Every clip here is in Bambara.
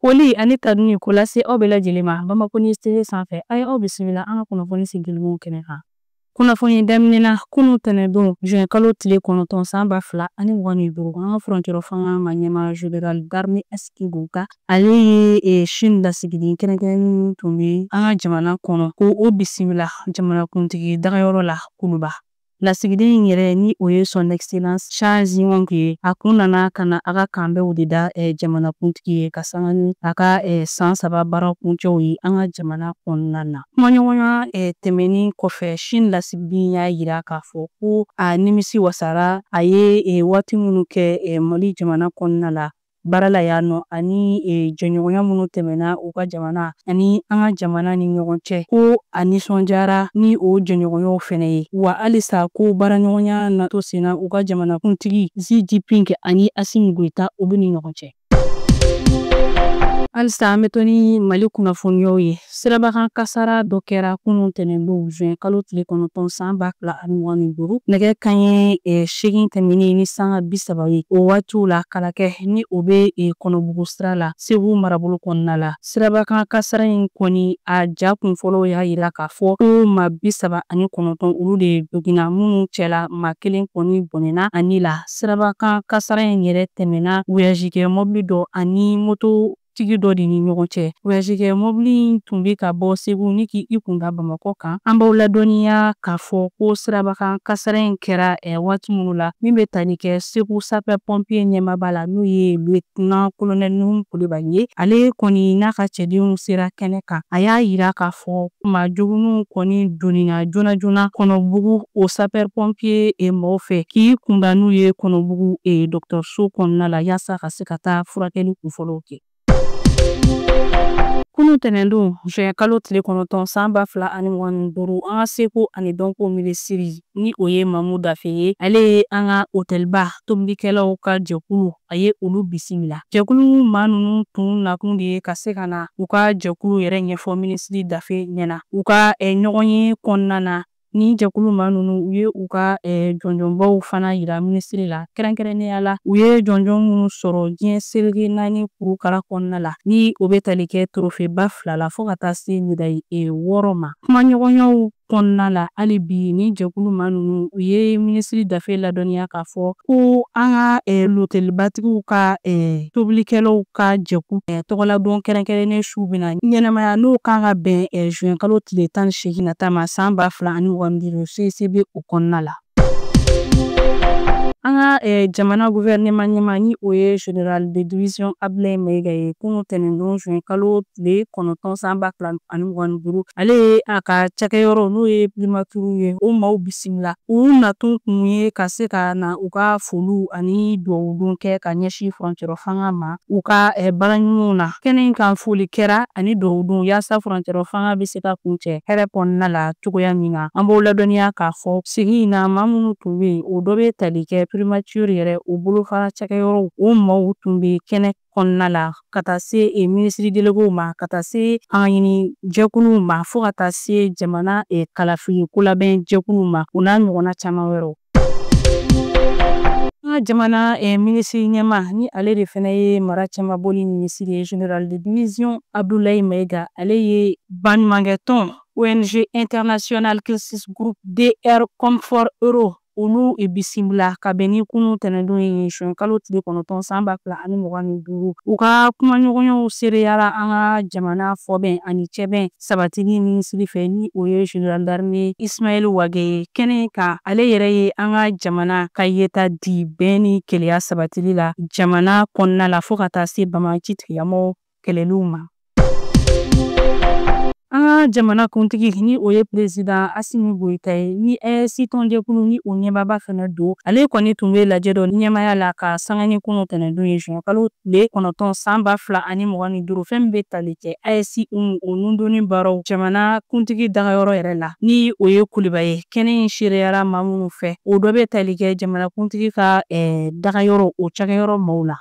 Foli ani tanuni k'o lase aw bɛɛ lajɛlen ma Bamako News TV sanfɛ. A ye aw bisimila an ka kunnafoni sigilenw kɛnɛ kan. Kunnafoni daminɛ na, kunu tɛnɛndon juin kalo tile kɔnɔntɔn san ba fila ani mugan ni duuru, an ka furancɛrɔ fanga ma ɲɛmaa General d'armee Asimi Goita, ale ye Chine lasigiden kɛrɛnkɛrɛnnen min tun bɛ an ka jamana kɔnɔ, k'o bisimila jamanakuntigi dagayɔrɔ la Kuluba. Lasigiden in yɛrɛ ni o ye son excellence Chen Zhihong ye a kun nana ka na a ka kanbɛnw de da eh, jamanakuntigi ye ka sanga ni a ka eh, san saba baara kuncɛw ye an ka jamana kɔnɔna na kumaɲɔgɔnya eh, tɛmɛni kɔfɛ Chine lasigiden y'a yira k'a fɔ ko a nimisi wasara a ye waati minnu kɛ Mali jamana kɔnɔna la baara la yan nɔ ani e, jɛɲɔgɔnya minnu tɛmɛna u ka jamana ani an ka jamana ni ɲɔgɔn cɛ ko a nisɔndiyara ni o jɛɲɔgɔnyaw fɛnɛ ye wa halisa ko baaraɲɔgɔnya na to senna u ka jamanakuntigi xi jinping ani asimi goita u bɛɛ ni ɲɔgɔn cɛ halisa an bɛ to ni mali kunnafoniyaw ye Sirabakan kasara dɔ kɛra kunun tɛnɛndon juin kalo tile kɔnɔntɔn san ba fila ani mugan ni duuru nɛgɛ kanɲɛ e, seegin tɛmɛnen ni sanga bi saba ye o waatiw la kalakɛ ni o bɛ e, kɔnɔbugu sira la segu marabolo kɔnɔna la sirabakan kasara in kɔni a ja kunfɔlɔw y'a yira k'a fɔ ko maa bi saba ani kɔnɔntɔn olu de joginna minnu cɛla maa kelen kɔni bɔnɛna a ni la sirabakan kasara in yɛrɛ tɛmɛna voyagekɛ mɔbili dɔ ani moto tigi dɔ de ni ɲɔgɔn cɛ voyagekɛ mɔbili in tun bɛ ka bɔ segu ni k'i kunda bamakɔ kan an b'aw ladɔnniya k'a fɔ ko sirabakan kasara in kɛra ɛ waati minnu la min bɛ tali kɛ segu sapɛr pɔnpiye ɲɛmaaba la n'o ye lieutenant colonel nuhu kulibali ye ale kɔni n'a ka cɛdenw sera kɛnɛ kan a y'a yira k'a fɔ ko maa joginninw kɔni donina joona joona kɔnɔbugu o sapɛr pɔnpiye e mɔgɔw fɛ k'i kunda n'u ye kɔnɔbugu e dɔgɔtɔrɔso kɔnɔna la yaasa ka se ka taa furakɛli kunfɔlɔw kɛ. Kunu tɛnɛndon juin kalo tile kɔnɔntɔn san ba fila ani mugan ni duuru an ka seko ani dɔnko minisiri ni o ye mamu dafe ye ale ye an ka otɛliba tobilikɛlaw ka jɛkulu a ye olu bisimila jɛkulu maa ninnu tun nakun de ye ka se ka na u ka jɛkulu yɛrɛ ɲɛfɔ minisiri dafe ɲɛ na u ka ɲɔgɔn ye kɔnɔna na Ni jɛkulu maa ninnu u ye u ka eh, jɔnjɔnbaw fana yira minisiri la kɛrɛnkɛrɛnnenya la u ye jɔnjɔn minnu sɔrɔ diɲɛ seleke naani kurukara kɔnɔna la ni o bɛ tali kɛ torofeba fila la fɔɔ ka taa se medayi eh, wɔɔrɔ ma kumaɲɔgɔnyaw kɔnɔna la hali bi ni jɛkulu maa ninnu u ye minisiri dafe ladɔnniya k'a fɔ ko an ka lotelibatigiw ka tobilikɛlaw ka jɛkulu tɔgɔladon kɛrɛnkɛrɛnnen su bɛna ɲɛnamaya n'o kan ka bɛn zuwɛn kalo tile tan ni seegin nata ma san ba fila ani mugan ni duuru CICB o kɔnɔna la. An ka eh, jamana gouvernement ɲɛmaa ni o ye General de division Ablaye Mayiga ye kunun tɛnɛndon juin kalo tile kɔnɔntɔn san ba fila ani mugan ni duuru ale ye a ka cakɛyɔrɔ n'o ye primaturu ye o maw bisimila u nakun tun ye ka se ka na u ka foliw ani duwawudon kɛ ka ɲɛsin furancɛrɔ fanga ma u ka eh, baara ɲumanw na kɛnɛ in kan foli kɛra ani duwawudon yaasa furancɛrɔ fanga bɛ se ka kuncɛ hɛrɛ kɔnɔna la cogoya min na an b'aw ladɔnniya k'a fɔ sigi in na maa minnu tun bɛ yen o dɔ bɛ tali kɛ primaturu yɛrɛ o bolofara cakɛyɔrɔw o maw tun bɛ kɛnɛ kɔnɔna la ka taa se e minisiri delegew ma ka taa se an ka ɲini jɛkuluw ma fo ka taa se jamana e kalafili kolabɛn jɛkuluw ma u n'a ɲɔgɔnna caman wɛrɛw an ka jamana eh, minisiri ɲɛmaa ni ale de fana ye mara cɛmaboli minisiri ye general de division abdulayi maiga ale ye baɲumankɛ tɔn ong international crisis group dr comfort ero olu e bisimila ka bɛn ni kunu tɛnɛdon ye zuwɛn kalo tile kɔnɔntɔn san ba fila ani mugan ni duuru u ka kumaɲɔgɔnyaw seereyara an ka jamana fɔbɛn ani cɛbɛn sabatili minisiri fɛ ni o ye general d'armee ismail wage ye kɛnɛ kan ale yɛrɛ ye an ka jamana ka yeta di bɛn ni kelenya sabatili la jamana kɔnɔna la fɔɔ ka taa se banbaanci tigilamɔgɔw kɛlɛliw ma. An ka jamana kuntigi ni o ye perezidan Asimi Goyita ye ni AES tɔnjɛkulu ni o ɲɛmaaba fana don, ale kɔni tun bɛ lajɛ dɔ ɲɛmaaya la ka sanga ni kunun tɛnɛndon ye zuwɛnkalo tile kɔnɔntɔn san ba fila ani mugan ni duuru, fɛn min bɛ tali kɛ AES hymne o nundonni baaraw jamana kuntigi dagayɔrɔ yɛrɛ la, ni o ye Kuluba ye. Kɛnɛ in seereyara maa minnu fɛ, o dɔ bɛ tali kɛ jamana kuntigi ka dagayɔrɔ o cakɛyɔrɔ maaw la.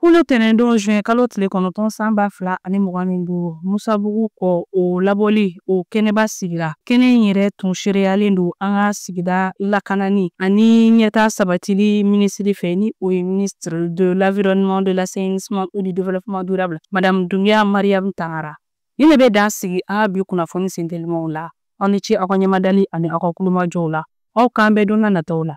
Kunu tɛnɛndon juin kalo tile kɔnɔntɔn san ba fila ani mugan ni duuru musabugu kɔ o labɔli o kɛnɛba sigira kɛnɛ in yɛrɛ tun seereyalen don an ka sigida lakanani ani ɲɛtaa sabatili minisiri fɛ ni o ye ministre de l'environnement de l'assainissement et du développement durable madame Doumbia Mariam Tangara Nin de bɛ dan sigi an ka bi kunnafoni sentelimaw la aw ni ce aw ka ɲɛmadali ani aw ka tulomajɔw la aw k'an bɛn don na nataw la